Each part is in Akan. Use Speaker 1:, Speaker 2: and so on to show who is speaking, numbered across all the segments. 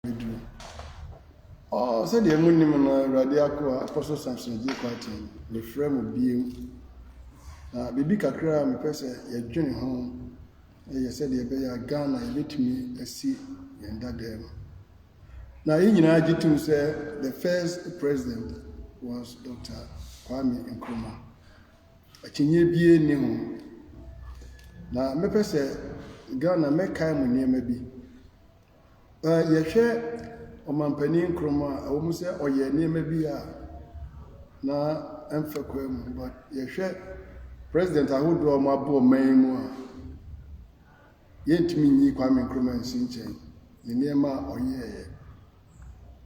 Speaker 1: Bɛduru. Ɔɔ, sɛdeɛ monim no, Awurade akoa, Apostle Samson Gyei Kwarteng, mefrɛ mo bio. Na biribi kakra a mepɛ sɛ yɛdwene ho yɛ sɛdeɛ ɛbɛyɛ a Ghana yɛbɛtumi asi yɛn dada mu. Na yɛn nyinaa gye tom sɛ the first president was Dr. Kwame Nkrumah. Akyinnye bie nni ho. Na mɛpɛ sɛ Ghana mɛkae mo nneɛma bi. Yɛhwɛ Ɔmanpanin Nkrumah a, ɛwom sɛ ɔyɛɛ nneɛma bi a na ɛmfa kwan mu, but yɛhwɛ president ahodoɔ a wɔabɔ ɔman yi mu a, yɛntumi nyi Kwame Nkrumah nsi nkyɛn, ne nneɛma a ɔyɛeɛ.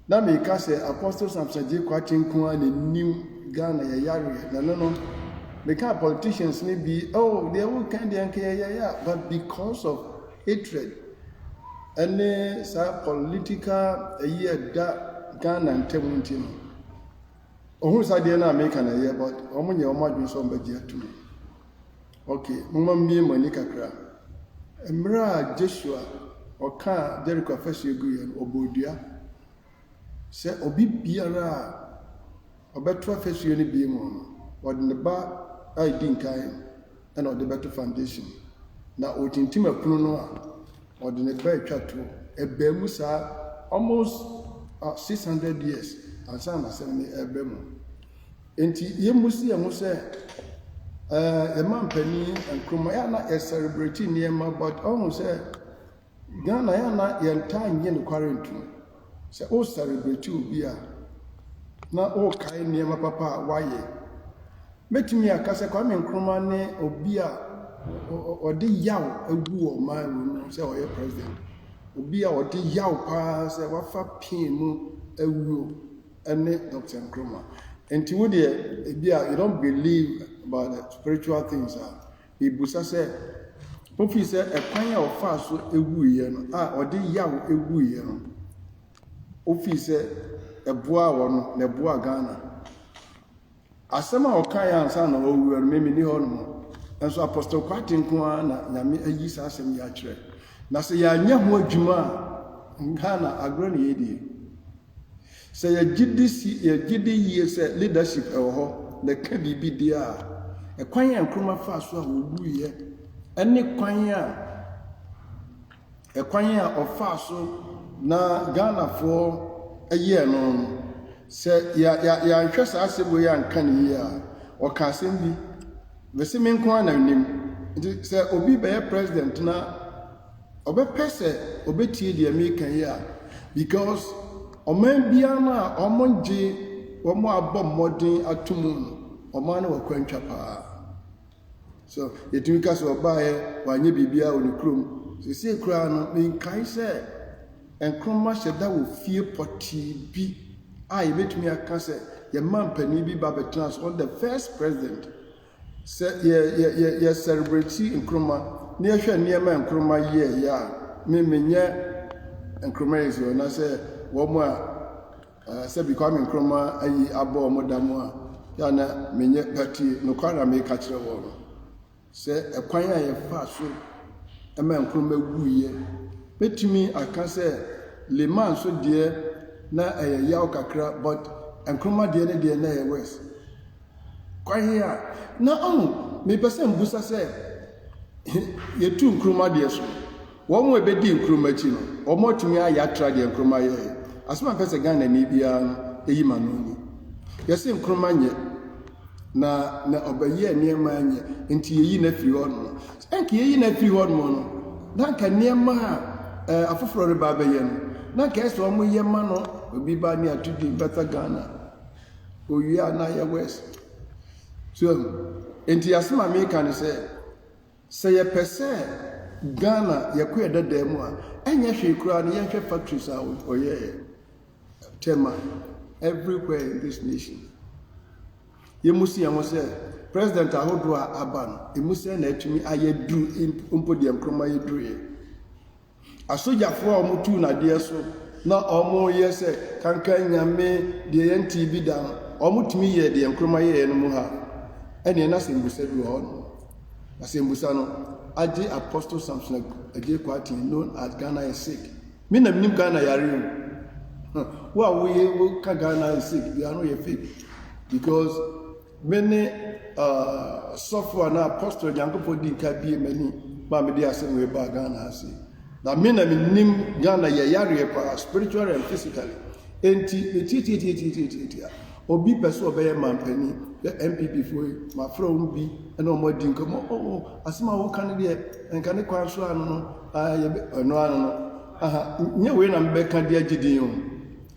Speaker 1: Na me ka sɛ apostle Samson Agyekwaakye nko ara na nim Ghana yɛ yareɛ na no no me ka politicians ne bi oh deɛ wo kan deɛ nka yɛ yɛ but because of hatred ɛne saa political ɛyi ɛda Ghana ntam nti no ɔhunu saa deɛ no a me ka na ɛyɛ but wɔn nyɛ wɔn adwene sɛ wɔn bɛgye atum. Ok, momma mibue mo ani kakra. Mmerɛ a Josua ɔkaa Jericho afasuo guiɛ no, ɔbɔɔ dua sɛ obi biara a ɔbɛto afasuo no bie mu no, ɔde ne ba a ɛdi nkan no na ɔde bɛto foundation no. Na ɔretintim apunu no a, ɔde ne ba atwa toɔ. Ɛbaa mu saa almost 600 years ansa na asɛm no ɛreba mu. Enti yɛmmu si yɛn ho sɛ ɛɛ yɛn mampanin Nkrumah yɛ na yɛ celebrate nneɛma but ɔhu sɛ Ghana yɛ na yɛn taa nye nokware ntom. Sɛ o celebrate obi a na o kae nneɛma papa a wayɛ. Mɛtumi aka sɛ Kwame Nkrumah ne obi a ɔde yaw agu wɔ ɔman wɔ mu sɛ ɔyɛ president. Obi a ɔde yaw paa sɛ wafa pain mu awuo. ne Doctor Nkrumah. Nti wo deɛ ebia you don't believe about the spiritual things a, mebusa sɛ, wofii sɛ ɛkwan a ɔfaa so wuiɛ no a ɔde yaw wuiɛ no, wofii sɛ ɛboaa wɔ no na ɛboaa Ghana? Asɛm a ɔkaeɛ ansa na ɔwuiɛ no, mimi ni hɔ nom. Nso Apostle Kwate nko ara na Nyame ayi saa asɛm yi akyerɛ. Na sɛ yɛanyɛ ho adwuma a, Ghana agorɔ na yɛdie. Sɛ yɛgye di si, yɛgye di yie sɛ leadership wɔ hɔ na ɛka biribi deɛ a, ɛkwan a Nkrumah faa so a ɔwuiɛ ɛne kwan a ɛkwan a ɔfaa so na Ghanafoɔ ɛyɛɛ no no, sɛ yɛ- yɛ- yɛanhwɛ saa asɛm wei anka no yie a, ɔka asɛm bi, bɛse me nko ara na nim. Nti sɛ obi bɛyɛ president na Ɔbɛpɛ sɛ ɔbɛtie deɛ meka yi a because ɔman biara no a wɔgye wɔn a abɔ mmɔden ato mu no, ɔman no wɔ kwantwa paa. So yɛtumi ka sɛ ɔbaeɛ wanyɛ biribiara wɔ ne kurom. Seesei koraa no menkae sɛ Nkrumah hyɛ da wɔ fie pɔtee bi a yɛbɛtumi aka sɛ yɛn mampanin bi ba bɛtena so on the first president Sɛ yɛ yɛ yɛ yɛ sɛrebreti Nkrumah na yɛhwɛ nneɛma a Nkrumah yɛeɛ a, me menyɛ Nkrumahist o, na sɛ wɔn a ah, sɛbi Kwame Nkrumah ayi abɔ wɔn da mu a, yɛ a na menyɛ pati. Nokware a meka kyerɛ wɔn no, sɛ ɛkwan a yɛfaa so ma Nkrumah wuiɛ, mɛtumi aka sɛ Limann nso deɛ na ɛyɛ yaw kakra, but Nkrumah deɛ ne deɛ na ɛyɛ worse. Kwan he a, na ɔho mepɛ sɛ mbusa sɛ, he yetu nkruma deɛ so? Wɔn a ebedii nkruma akyi no, wɔn atumi ayɛ atra deɛ nkruma yɛ he? Asɛm a mpɛ sɛ Ghanani biara no yim ano ni. Yɛse nkruma nyɛ, na na ɔbɛyɛɛ nneɛma nyɛ, nti yeyi no afiri hɔ nom. Ɛnka yeyi no afiri hɔ nom no, na nka nneɛma a eh, afoforɔ reba abɛyɛ no, na nka ɛsɛ wɔn yɛ ma no, obi ba ne ato din bɛta Ghana. Owia no ayɛ worse. So hu? Enti asɛm a meka ne sɛ, sɛ yɛpɛ sɛ Ghana yɛkɔ yɛ dada mu a, ɛnyɛ hwee koraa no yɛnhwɛ factories a ɔyɛɛ Tema everywhere in this nation. Yɛmu si yɛn ho sɛ president ahodoɔ a aba no, ɛmu sɛ na atumi ayɛ duru mpo deɛ Nkrumah yɛ duruiɛ. Asogyafoɔ a wɔn tuu no adeɛ so na wɔn yɛ sɛ kankan nyame deɛ yɛn ntee bi da no wɔn tumi yɛɛ deɛ nkroma yɛɛ no mu ha ɛneɛ na sɛmbusa bi wɔ hɔ no na sɛmbusa no agye apostle samson agye kwatin known as ghana is sick me na menim ghana yare o wo a woyɛ woka ghana is sick bi ano yɛ fake because Me ne ɔsɔfo anaa apostle a Nyankopɔn dii nka bue m'ani ma mede asɛm wei baa Ghana ha sei. Na me na menim Ghana yɛ yareɛ paa spiritually and physically. Enti metiatiatiatiatiatia. Obi pɛ sɛ ɔbɛyɛ mampanin yɛ NPP foɔ yi mafrɛ wɔn bi ɛna wɔn adi nkɔmmɔ oh, oh asɛm a wɔka no deɛ nka ne kwan so ano no ah, ɛno ano no aha nyɛ wei na mebɛka de agye din o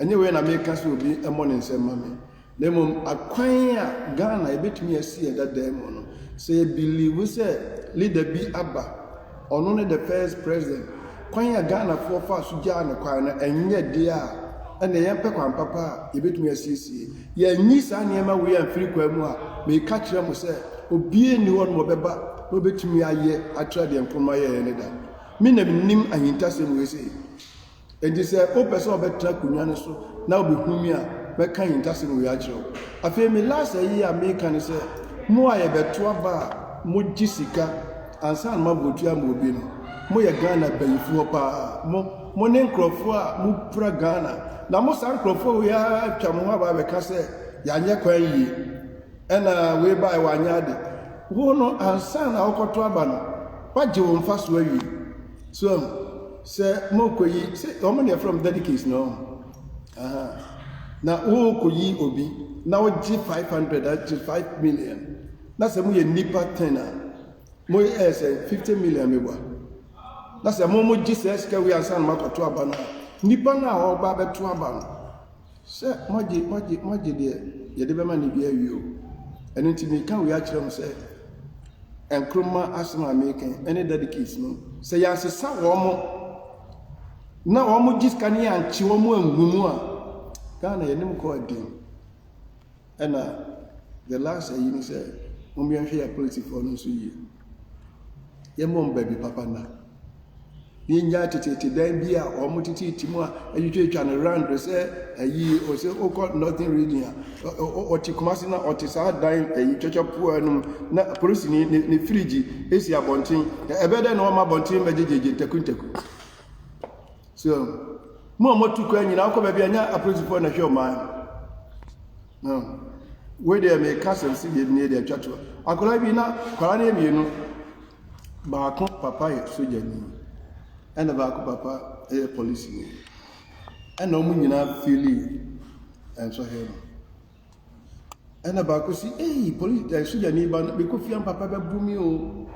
Speaker 1: ɛnyɛ wei na meka sɛ obi mmɔ ne nsɛm ma me Na mmom akwan a Ghana yɛbɛtumi asi yɛn dada mu no, sɛ yɛ believe sɛ leader bi aba, ɔno ne the first president, kwan a Ghanafoɔ faa so gyaa no kwan no, ɛnyɛ deɛ a ɛnna yɛmpɛ kwan papa a yɛbɛtumi asiesie. Yɛanyi saa nneɛma wei amfiri kwan mu a, meka kyerɛ mo sɛ obiara nni hɔ nom ɔbɛba na ɔbɛtumi ayɛ atra deɛ Nkrumah yɛeɛ no da. Me na menim ahintasɛm wei sei. Enti sɛ wopɛ sɛ ɔbɛtra akonnwa no so na obehu me a, mɛka ahintasɛm wei akyerɛ wo. Afei me last ayi a meka ne sɛ, mo a yɛbɛto aba a mogye sika ansa na moabɔ tua ama obi no, moyɛ Ghana bayifo hɔ paa. Mo, mo ne nkurɔfo a mupira Ghana, na mo saa nkurɔfo wei ara atwa mo ho aba abɛka sɛ yɛanyɛ kwan yie, ɛna wei bae wanyɛ ade. Wo no ansa na wokɔto aba no, woagye wo mfaso awie. So ahu? Sɛ morekɔyi, sɛ wɔn na ɛfrɛ wɔn delegates na wɔn, na worekɔyi obi na wogye five hundred agye five million na sɛ moyɛ nnipa ten a mo ɛyɛ sɛ fifty million mebɔ na sɛ mo mo gye sɛ sika wei ansa na moakɔto aba no a nnipa no a wɔba abɛto aba no Sɛ moagye, moagye, moagye deɛ, yɛde bɛma no bi awie o. Ɛno nti meka wei akyerɛ mo sɛ, Nkrumah asɛm a meka yi, ɛne Daddy case no, sɛ yɛansesa wɔn mo, na wɔn gye sika no yɛankye wɔn angu mu a, Ghana yɛne mo kɔ aden. Ɛna the last ayi ne sɛ mom yɛnhwɛ yɛ politifoɔ no nso yie. Yɛmmɔ mba bi papa nna. Yɛnnya teteete dan bi a wɔn teteete mu a atwitwatwa no round sɛ ayi ɔsɛ wokɔ northern region a ɔte Kumasi na ɔte saa dan ayi twatwapoa no mu na polisini ne ne firigyi esi abɔnten. Ɛbɛyɛ dɛ na wɔma abɔnten bɛgyegyegye ntakuntaku. So mo a motu kwan nyinaa wokɔ baabi a nyɛ apolisifoɔ na hwɛ ɔman no. Wei deɛ meka sɛm si deɛ nie deɛ atwa to. Akwadaa bi na kwadaa no yɛ mmienu. Baako papa yɛ sogyani ɛna baako papa yɛ polisini. Ɛna wɔn nyinaa fili nsɔhwɛ no. Ɛna baako si, ei, poli ɛ sogyani ba no, mekɔ fie a papa bɛbu me o.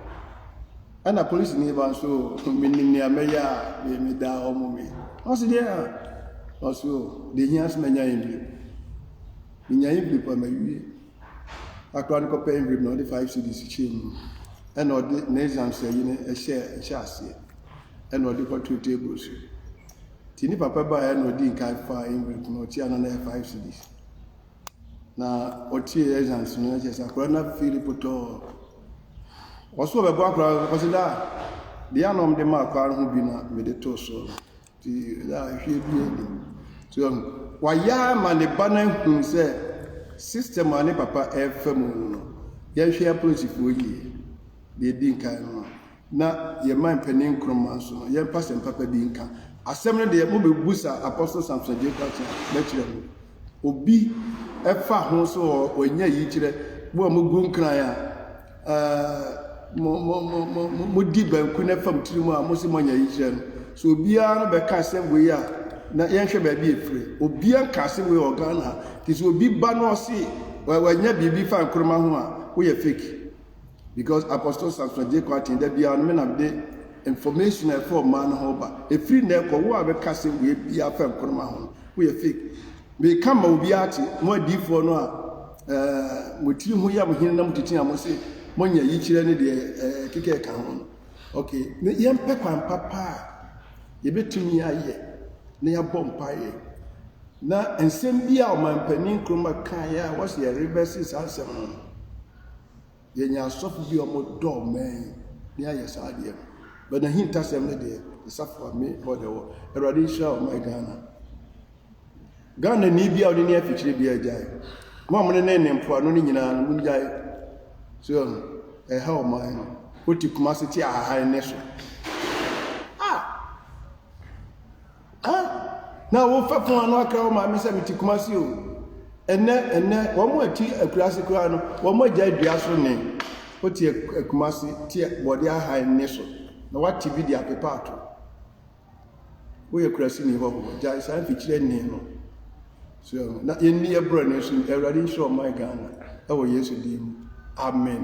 Speaker 1: Ɛna polisini ba nso, menim nea mɛyɛ a me meda hɔ mo me. Ɔse deɛ a, ɔse o, deɛ hia sɛ manya Envelope. Menya Envelope a mawie. Akora no kɔpɛ Envelope na ɔde five cedis hyɛɛ mu. Ɛna ɔde ne exams ayi no hyɛɛ nhyɛ aseɛ. Ɛna ɔde kɔtoo table so. Nti ne papa baeɛ na ɔdii nkan faa envelope no ɔkyeɛ na na ɛyɛ five cedis na ɔkyeɛ exams no ɛkyɛ sɛ akora na fiili potɔɔ ɔso ɔbɛbɔ akora ɔse daa deɛ ana ɔmde ma akora no ho bi na mede too soɔ no nti daa hwie bi adi so ɛho wayɛ ama ne ba no ahu sɛ system a ne papa ɛfa mu no yɛhwɛ apolisifoɔ yie deɛ ɛdi nkan no Na yɛn man panin Nkrumah nso no, yɛmfa asɛm papa bi nka. Asɛm no deɛ, mobɛbusa Apostle Samson Adjei Kwarteng a, mɛkyerɛ mo. Obi fa ho so wɔ wanya yikyerɛ, mo a mogu nkran a, ɛɛ, modi banku na ɛfam tiri mu a, mose moanya yikyerɛ no. So obiara no bɛka asɛm wei a, na yɛnhwɛ baabi ɛfiri. Obiara nka asɛm wei wɔ Ghana ha. Nti sɛ obi ba na ɔse wanya biribi fa Nkrumah ho a, woyɛ fake. because Apostle Samson J. Kwarteng da biara no me na mede information a ɛfa ɔman no ho ba. Ɛfiri nnɛ kɔ, wo a bɛka asɛm wei biara fa Nkrumah ho no, woyɛ fake. Meka ma obiara te, mo adiifoɔ no a eh, mo tiri ho yɛ mo hene na motete a mo se monyɛ yikyerɛ ne deɛ eh, ɛkeka ɛka ho no. Okay, ne yɛmpɛ kwan papa a yɛbɛtumi ayɛ na yɛabɔ mpaeɛ na nsɛm bi a ɔmampanin Nkrumah kaeɛ a wɔse yɛrebɛse saa nsɛm no no, Yɛnya asɔfo bi a wɔdɔ mmɛn ne ayɛ saa adeɛ no. But n'ahintasɛm no deɛ, asafo a me hɔ na ɛwɔ. Awurade nhyira ɔman Ghana. Ghana ni bi a ɔne ne afikyire bi agyae. Mo a mo ne ne ne mpoano no nyinaa no, mo gyae. So ɛho, ɛha ɔman no. Wote kuma ase te ahahan ne so. Ah! Ɛ? Na wo fɛfo ano akra wo maame sɛ mete Kumasi o. Ɛnɛ, ɛnɛ, wɔn a ɛte akuraase koraa no, wɔn agyae dua so nne. Wote Kumasi, te bɔde ahan nne so, na woate bi de apepa ato. Woyɛ kurasini hɔho, gyae saa mfikyire nne no. So, na yɛnni yɛ borɔne so, Awurade nhyira ɔman Ghana, ɛwɔ Yesu din mu. Amen.